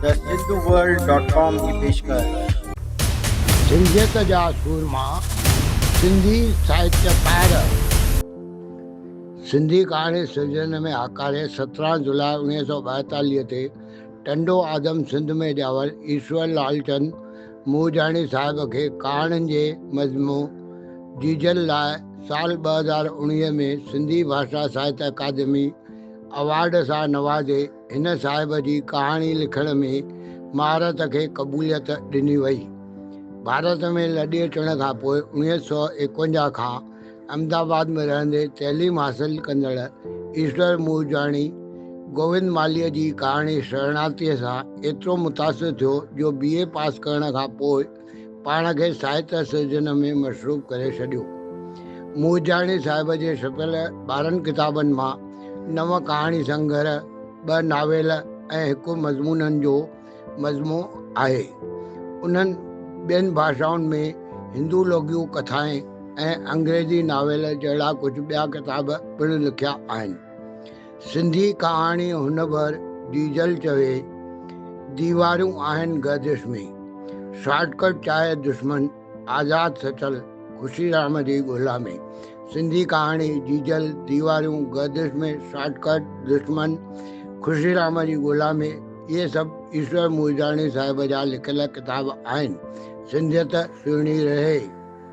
thehinduworld.com جي پيشڪش. سنڌيت جا سورما، سنڌي ساهتڪار. سنڌي ڪهاڻي سرجڻ ۾ هاڪاري سترهن جولاء اوڻيهه سؤ ٻائيتاليهه تي ٽنڊو آدم سنڌ ۾ ڄاول ايشور لال چند مورجاڻي صاحب کي ڪهاڻين جي مجموع جيجل لاء سال ٻه هزار اوڻيهه ۾ سنڌي ڀاشا ساهت اڪادمي اوارڊ سان نوازي هن صاحب جي ڪهاڻي لکڻ ۾ مهارت کي قبوليت ڏني وئي. ڀارت ۾ لڏي اچڻ کان پوء اڻويهه سؤ ايڪونجاهه کان احمد آباد ۾ رهندي تعليم حاصل ڪندڙ ايشور مورجاڻي گووند مالهيء جي ڪهاڻي شرڻارٿيء سان ايترو متاثر ٿيو جو بي اي پاس ڪرڻ کان پوء پاڻ کي ساهتيه سرجن ۾ مصروف ڪري ڇڏيو. مورجاڻي صاحب جي ڇپيل ٻارهن ڪتابن مان نو ڪهاڻي سنگهر، ٻه ناول ۽ هڪ مضمونن جو مجموعو آهي. انهن ٻين ڀاشائن ۾ هندو لوڪيون ڪٿائين ۽ انگريزي ناول جهڙا ڪجهه ٻيا ڪتاب پڻ لکيا آهن. سنڌي ڪهاڻي هن ڀر ڊيزل چوي ديوارون آهن گردش ۾، شارٽ ڪٽ چاهي دشمن، آزاد سچل خوشي رام جي ڳولا ۾، سنڌي ڪهاڻي ڊيزل ديوارون گردش ۾ شارٽ ڪٽ دشمن خوشي رام جي ڳولا ۾ اهي سڀ ايشور مورجاڻي صاحب جا لکيل ڪتاب آهن سنڌيت سهڻي رهي.